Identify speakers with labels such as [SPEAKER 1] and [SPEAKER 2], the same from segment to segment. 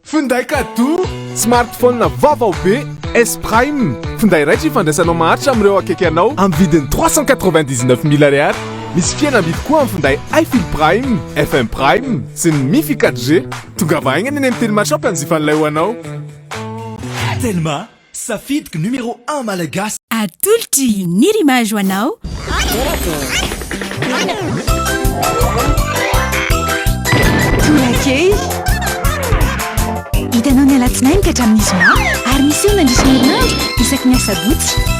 [SPEAKER 1] Finday kadoa, smartphone vaovao be S Prime, finday raitra ifandraisanao maharitra amin'ireo akaiky anao amin'ny vidiny trois cent quatre-vingt-dix-neuf mille ariary. Misy fihenam-bidy koa amin'ny finday iFill Prime, FM Prime sy ny Mifi quatre G. Tongava haingana eny amin'ny Telma Shop hanjifa an'ilay ho anao.
[SPEAKER 2] Telma, Safidiko numéro un malagasy. Atolotry
[SPEAKER 3] ny rimage ho anao.
[SPEAKER 4] Tolakely. Hitanao ny alatsinainy ka hatramin'ny zoma ary miseho mandritra ny herinandro isaky ny asabotsy.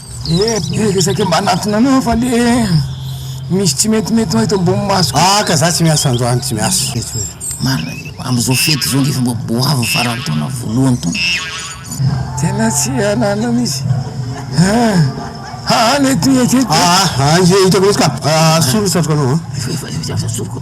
[SPEAKER 5] Ee ee de saika mba anatona anao fa le misy tsy mety mety eto ambony masoko. Ah ka za tsy miasa
[SPEAKER 6] androany tsy miasa mety hoe. Marina ve fa
[SPEAKER 7] amzao fety zao nge fa mba goavy farany taona voalohany taona.
[SPEAKER 5] Tena tsy anana misy ah ah le tia tia. Ah ah ah hitako
[SPEAKER 6] mihitsy ka ah solo satroka anao an. Efa efa efa soroko.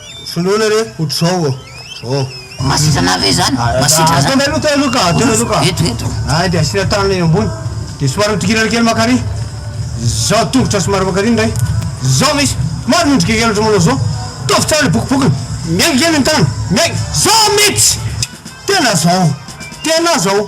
[SPEAKER 6] Finoana re otrzao ô! Ô!
[SPEAKER 7] Masizana ve zany? Masitra zany? Atony aloha, atony aloha ka, atony aloha
[SPEAKER 6] ka. Eto, eto. Ay
[SPEAKER 7] dia asiana tanana
[SPEAKER 6] eo ambony. Dia somary mitokilana kely mankarỳ. Zao tongotra somary mankarỳ indray. Zao misy. Somary miondrika kely ohatra manao zao. Ataovy tsara ilay bokobokona. Miainga kely ny tanana. Miainga. Zao mitsy! Tena zao. Tena zao.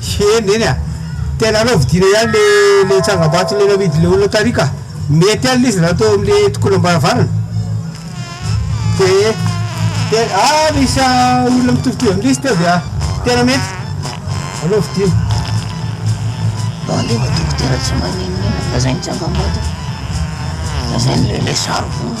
[SPEAKER 6] Hee neny a! Tena anao vidina ihany le le tsangambato le navidin'ny le olona tary ka! Mety alina izy raha teo amle tokonam-baravarana! Tee te a misy a olona mitovitovy amin'ilay izy teo avy a! Tena mety anao vidina. Alefa
[SPEAKER 7] dokotera tsy maninona ela lazainy tsangambato lazainy le le sary vonona.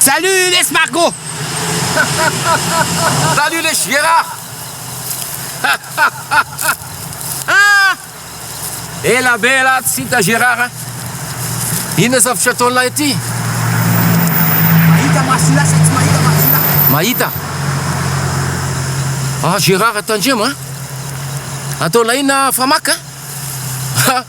[SPEAKER 8] Salut les Marco! Salut les Gérard! Ah! Ela be ela tsy hita Gérard a! Inona zavatra ataon'lah ity? Mahita
[SPEAKER 5] masina sa tsy mahita masina?
[SPEAKER 8] Mahita! Ah Gérard
[SPEAKER 5] tandremo
[SPEAKER 8] a! Ataon'lah inona Famac a?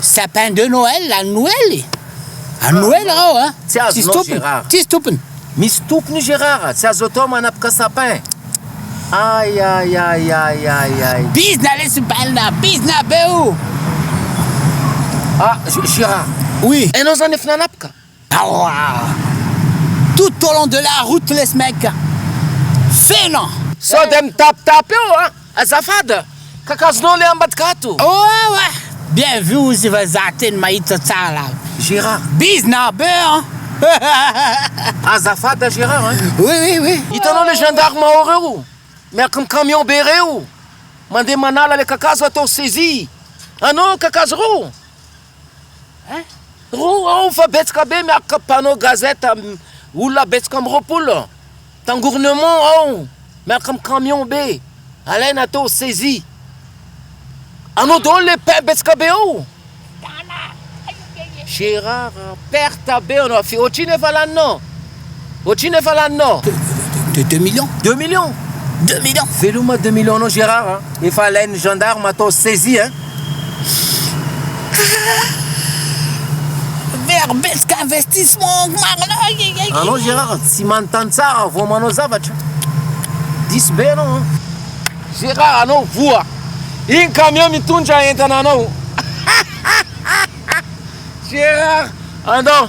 [SPEAKER 8] Sapin
[SPEAKER 9] de Noël anoely anoely ao a tsy azonao Gérard tsisy topiny. Misy tompony io
[SPEAKER 8] Gérard a, tsy azo atao manapaka sapin. Ay ay ay ay ay ay. Bizna lesy
[SPEAKER 9] balina bizna be o. Ah
[SPEAKER 8] Gérard. Oui. Enao zany
[SPEAKER 9] efa nanapaka?
[SPEAKER 8] Aoaah!
[SPEAKER 9] Tout au long de la route les mecs feno! Sao dia
[SPEAKER 8] mitapitapy eo an! Azafada! Kakazonao le ambadika ato! Oaoa!
[SPEAKER 9] Bien vu ozy vazaha teny mahita tsara lava! Gerard!
[SPEAKER 8] Bizna be
[SPEAKER 9] an! Azafada
[SPEAKER 8] Gerard an! Oui oui oui! Hitanao
[SPEAKER 9] le gendarme
[SPEAKER 8] ao reo miaraka am camion be reo mandeha manala le kakazo atao saisie anao kakazo reo Roa ao fa betsaka be miakoka mpanao gazette olona betsaka amby roapolo tangournement ao miaraka am camion be alaina atao saisie anao daholo le pain betsaka be ao Gérard perte be anao ohatrino efa laninao Ohatrino efa laninao? De
[SPEAKER 9] deux millions. Deux millions?
[SPEAKER 8] Deux millions. Veloma deux millions nao Gérard a! Efa alain'ny gendarme atao saisie hein!
[SPEAKER 9] Very betsaka investissement marina aiaiaiaiai.
[SPEAKER 8] Anao Gérard tsy manontany tsara vao manao zavatra. Diso be anao an. Gérard anao voa iny camion mitondra entana anao. Gérard andao.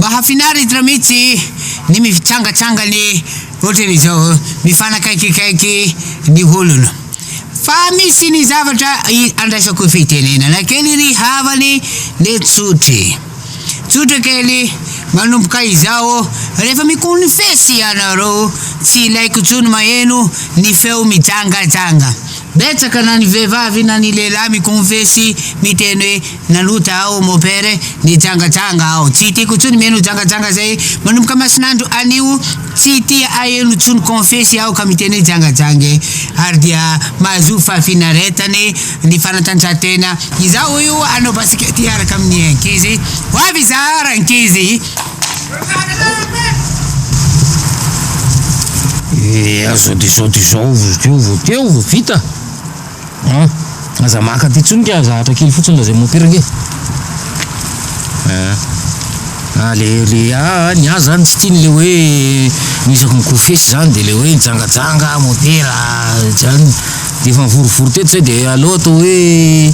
[SPEAKER 9] Mahafinaritra mihitsy ny mifitsangatsanga ny ohatran' izao, mifanakaikikaiky ny olona. Fa misy ny zavatra andraisako fitenenana kely ry havany nentsotry. Tsotra kely, manomboka izao, rehefa mikonfesy ianareo, tsy ilaiko intsony maheno ny feo mijangajanga. Betsaka na ny vehivavy na ny lehilahy mikonfesy miteny hoe nanota aho mon père, nijangajanga aho. Tsy tiako intsony mihaino jangajanga zay. Manomboka masinandro anio, tsy tia aheno intsony konfesy aho ka miteny hoe jangajanga e. Ary dia mahazoa fahafinaretana e. Ny fanatanjahantena izao io hanao basikety hiaraka amin'ny ankizy. Ho avy izaho rankizy. Eh, aza disaoty izao vao teo vao teo vao vita. Ah, aza maka aty intsony ka zahatra kely fotsiny raha izay mopiraka e. Ah. Ah, le le ah, ah ny azy zany tsy tiany le hoe misako ny kofesy zany de le hoe mijangajanga motera zany Efa nivorivory teto zay dia aleo atao hoe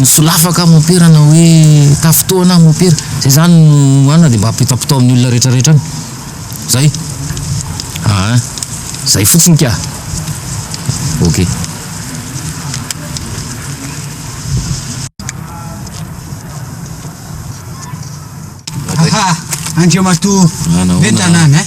[SPEAKER 9] solafa ka mopera na hoe tafitoha na mopera zay zany no anona dia mba apitapitao amin'ny olona retraretra any zay aa zay fotsiny ka ok. Andriamatoa bentanana eh.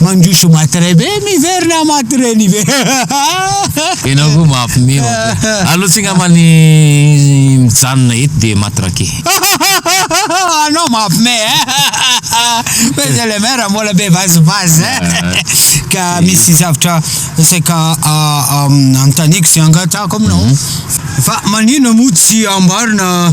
[SPEAKER 9] mandroso maty ray be miverina maty reny be
[SPEAKER 8] enao koa mahampime allo tsy ngamba ny mijanona eto de maty rake
[SPEAKER 9] anao mahampime monsieur le maire mbola be vazivazy ka misy zavatra saika antaniko sy angatahako aminao fa manina moa tsy ambarina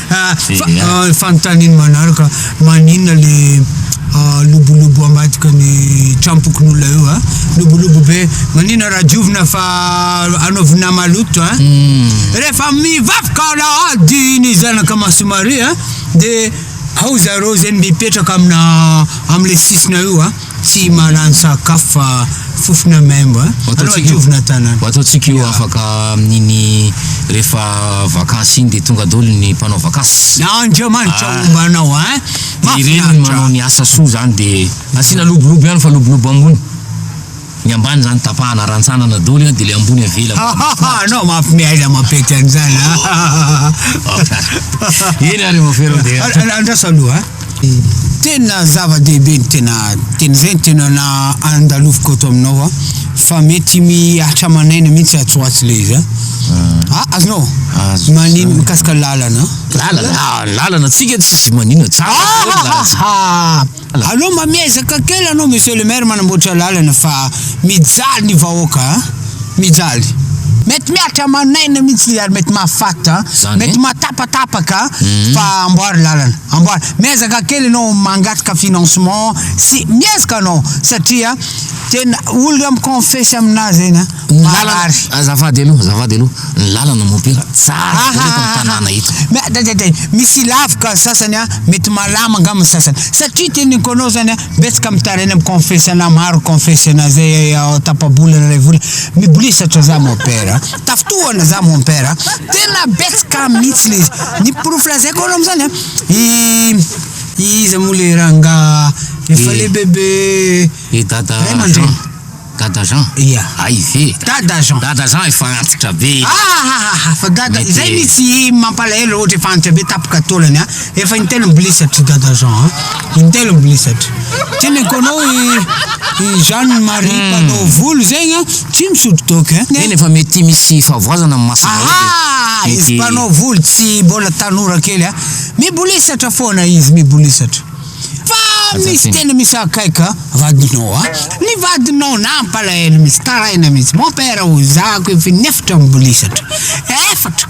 [SPEAKER 9] Fa fanontaniany manaraka, maninona le lobolobo ambadika ny trampokon'olona eo a? Lobolobo be, maninona raha diovina fa anaovina maloto a? Rehefa mivavaka alahady ny zanaka maso Maria a, de ao zareo zay mipetraka amina am'le sisina eo a. Tsy mahalany sakafo fa fofona maimbo a! Ho ataontsika io, ho ataontsika io afaka
[SPEAKER 8] amin'iny rehefa vakansy iny dia tonga daholo ny mpanao vakansy. Andriamanitra homba
[SPEAKER 9] anao a! Mahafinaritra. Ireny
[SPEAKER 8] no manao ny asa soa zany dia asiana lobolobo ihany fa lobolobo ambony, ny ambany zany tapahana rantsanana daholo io dia ilay ambony avela mba mahafinaritra. Anao manko
[SPEAKER 9] miaina mampety an'izany a!
[SPEAKER 8] Eny ary Maferoa dia. Andraso aloha a!
[SPEAKER 9] Tena zava-dehibe ny tena teny izay ny tena na andaloviko ato aminao a fa mety mihatra aman'aina mihitsy atsy ho atsy le izy a ah, azonao Azo manino zany. mikasika lalana Lalana, ah,
[SPEAKER 8] lalana tsika tsisy manina tsika. Ah, Lalana ah, tsika. ah, ah. alao mba
[SPEAKER 9] miezaka kely anao monsieur le maire manamboatra lalana fa mijaly ny vahoaka a mijaly mety mihatra aman'aina mihitsy ary mety mahafaty a Zany. mety mahatapatapaka a fa amboary lalana Amboara, miezaka kely ianao mangataka financement sy miezaka anao satria tena olona mi-confesse aminà zay na marary.
[SPEAKER 8] Azafady aloha, azafady aloha, ny lalana mompera tsara be eto amin'ny tanàna eto. Mdadadada, misy
[SPEAKER 9] ilavaka ny sasany an, mety malama angamba ny sasany satria teneniko anao zany an, betsaka mitaraina mi-confesse anà, maro mi-confesse anà zay ao tapa-bolana iray volana, mibolisatra za mompera. Tafitohana za mon père a! Tena betsaka mihitsy le izy! Ny porofo lazaiko anao amin'izany a, i iza moa le rangahy efa Eh. lehibebe Eh dada ray Jean, aman-dreny?
[SPEAKER 8] dada Jean, Ia. hay ve? Dada Jean. Dada Jean efa antitra be. Ahahahahah, fa
[SPEAKER 9] dada Mety- izay mihitsy mampalahelo raha ohatra efa antitra be tapoka taolany a! Efa intelo mbilisatra i Dada Jean a! Intelo mbilisatra. Ty ny ankoanao i i Jeanne Marie mpanao volo zegny a, tsy misotro toaka e! Eny efa mety misy
[SPEAKER 8] fahavoazana amin'ny maso zao dia Ahaa! Izy mety mpanao
[SPEAKER 9] volo tsy mbola tanora kely a! Mibolisatra foana izy, mibolisatra. Fa Aza misy tena tena misy akaiky a! Vadinao a! Ny vadinao nampalahelo mihitsy, taraina mihitsy. Mon père hoy za akoy efa in'efatra mibolisatra. Efatra!